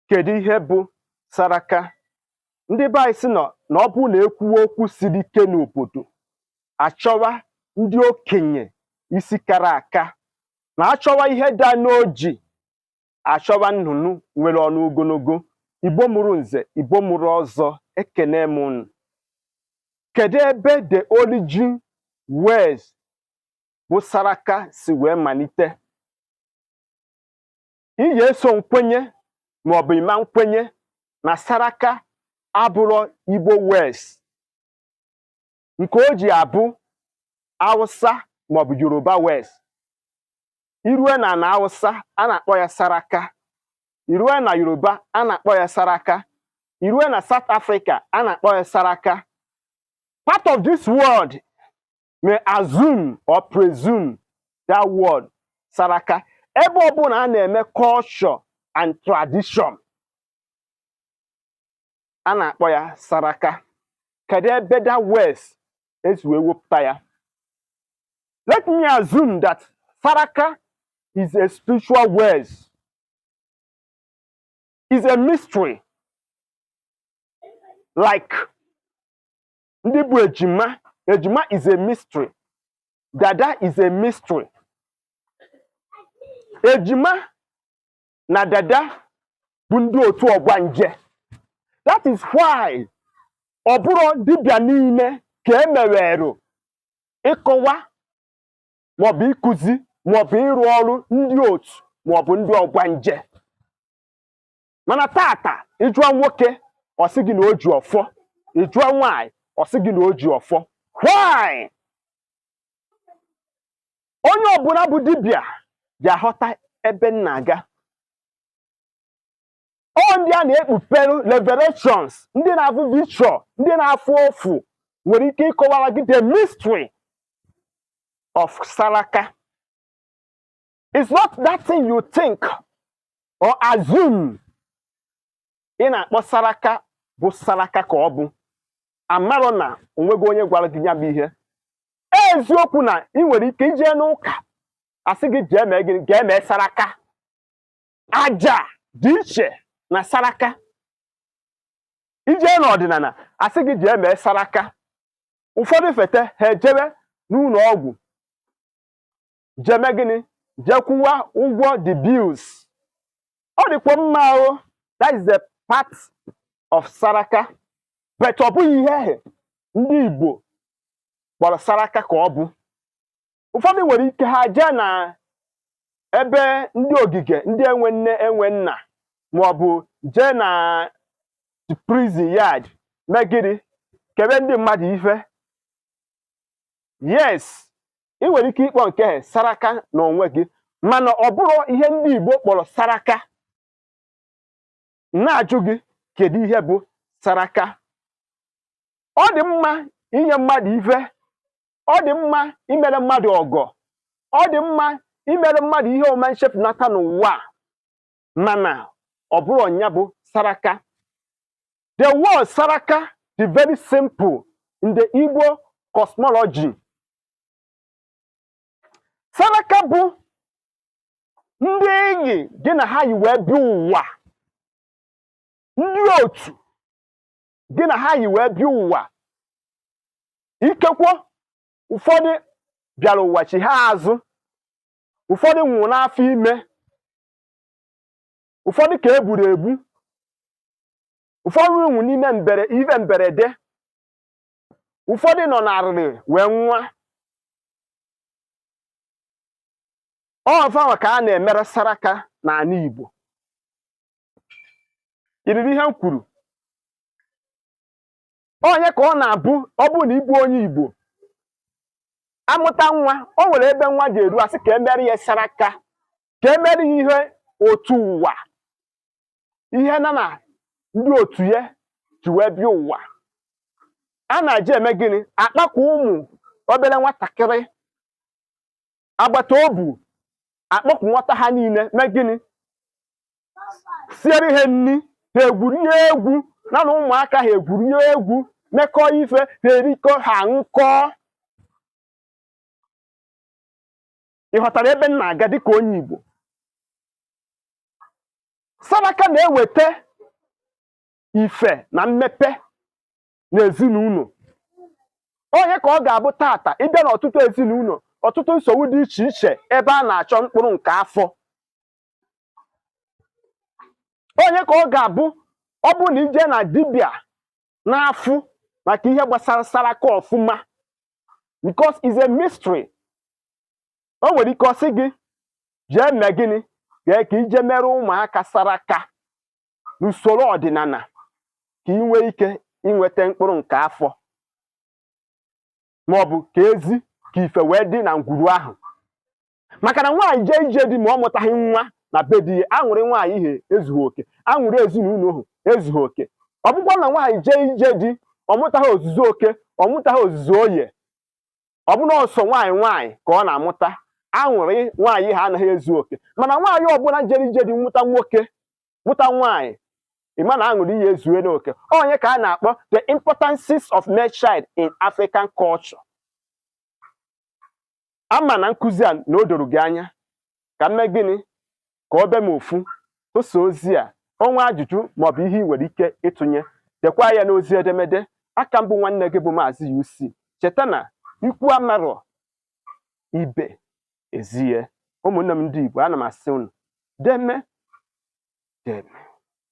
kedu ihe bụ saraka ndị be anyị sị na ọ bụrụ na ekwuwe okwu siri ike n'obodo achọwa ndị okenye isi kara aka na achọwa ihe daa n'oji achọwa nnụnụ nwere ọnụ ogologo igbo mụrụ nze igbo mụrụ ọzọ ekene m unu kedu ebe the origin words bụ saraka si wee malite ị ga-eso m kwenye maọbụ ịma nkwenye na saraka abụrọ igbo words nke o ji abụ awụsa maọbụ yoruba words irue na na awụsa a na-akpọ ya saraka irue na yoruba a na-akpọ ya saraka irue na south africa a na-akpọ ya saraka part of this world may assume or presume that word saraka ebe ọbụla a na-eme culture and tradition a na-akpọ ya saraka kedu ebe that words esi wee wepụta ya let me assume that saraka is a spiritual words is a mystery like ndị bụ ejima ejima is a mystery dada is a mystery ejima na dada bụ ndị otu ọgbanje that is why ọ bụrọ dibịa niile ka e mewerụ ịkọwa maọbụ ịkụzi maọbụ ịrụ ọrụ ndị otu maọbụ ndị ọgbanje mana taata ịjụọ nwoke ọ sị gị na o ji ọfọ ịjụọ nwaanyị ọ sị gị na o ji ọfọ why onye ọbụla bụ dibịa ga-aghọta ebe m na-aga ọ ndị a na-ekpupere revelations ndị na-afụ vision ndị na-afụ ọfụ nwere ike ịkọwara gị the mystery of saraka it's not that thing you think or assume ị na-akpọ saraka bụ saraka ka ọ bụ amarọ na onwego onye gwara gị ya bụ ihe eziokwu na ị nwere ike ije n'ụka asị gị jee mee gịnị jee mee saraka aja dị iche na saraka ije n'ọdịnala asị gị jee mee saraka ụfọdụ fete ha ejebe n'ụlọ ọgwụ jee mee gịnị jee kwụwa ụgwọ the bills ọ dịkwa mma ahụ that is the part of saraka but ọ bụghị ihe ahụ ndị Igbo kpọrọ saraka ka ọ bụ ụfọdụ nwere ike ha jee na ebe ndị ogige ndị enwe nne enwe nna ma ọ bụ jee na prison yard mee gịnị kebe ndị mmadụ ife yes ị nwere ike ịkpọ nke ahụ saraka na onwe gị mana ọ bụrọ ihe ndị Igbo kpọrọ saraka na-ajụ gị kedu ihe bụ saraka ọ dị mma inye mmadụ ife ọ dị mma imere mmadụ ọgọ ọ dị mma imere mmadụ ihe ọma nchepụnata n'ụwa mana ọ bụrọ nya bụ saraka the word saraka dị very simple in the Igbo cosmology saraka bụ ndị enyi gị na ha yi wee bịa ụwa ndị otu gị na ha yi wee bịa ụwa ikekwe ụfọdụ bịara ụwa chighaa azụ ụfọdụ nwụrụ n'afọ ime ụfọdụ ka e gburu egbu ụfọdụ nwụrụ n'ime mbere ife mberede ụfọdụ nọ n'arịrị wee nwụọ fanwa ka a na-emere saraka n'ala Igbo iriri ihe m kwuru ọ nya ka ọ na-abụ ọ bụrụ na ị bụ onye Igbo a mụta nwa o nwere ebe nwa ga-eru a sị ka e mere ya saraka ka e mere ya ihe otu ụwa ihe na na ndị otu ya ji wee bịa ụwa a na-eje eme gịnị a kpọkọ ụmụ obere nwatakịrị agbata obu a kpọkọ nwata ha niile mee gịnị siere ha nri ha egwurie egwu na na ụmụaka ha egwurie egwu mekọọ ife ha erikọ ha aṅụkọọ ị ghọtara ebe m na-aga dịka onye Igbo saraka na-eweta ife na mmepe n'ezinụlọ ọ nya ka ọ ga-abụ taata ị bịa n'ọtụtụ ezinụlọ ọtụtụ nsogbu dị iche iche ebe a na-achọ mkpụrụ nke afọ ọ nya ka ọ ga-abụ ọ bụrụ na i jee na dibịa na-afụ maka ihe gbasara saraka ọfụma because is a mystery o nwere ike ọ sị gị jee mee gịnị jee ka i je mere ụmụaka saraka n'usoro ọdịnala ka ị nwee ike inweta mkpụrụ nke afọ maọbụ ka ezi ka ife wee dị na ngwuru ahụ maka na nwaanyị jee ije di ma ọ mụtaghị nwa na be di ya aṅụrị nwaanyị ahụ ezughị oke aṅụrị ezinụlọ ahụ ezughị oke ọ bụkwa na nwaanyị jee ije di ọ mụtaghị ozuzu oke ọ mụtaghị ozuzu oye ọ bụ na ọ sọ nwaanyị nwaanyị ka ọ na-amụta aṅụrị nwaanyị ahụ anaghị ezu oke mana nwaanyị ọbụla jere ije di mụta nwoke mụta nwaanyị ị ma na aṅụrị ya ezuena oke ọ ya ka a na-akpọ the importances of male child in African culture ama m na nkụzi a na o doro gị anya ka m mee gịnị ka ọ bịa m ofu tụsa ozi a o nwee ajụjụ maọbụ ihe ị nwere ike ịtụnye dekwa ya n'ozi edemede aka m bụ nwanne gị bụ maazị UC cheta na ikwu amarọ ibe ezie ụmụnne m ndị Igbo ana m asị unu deme deme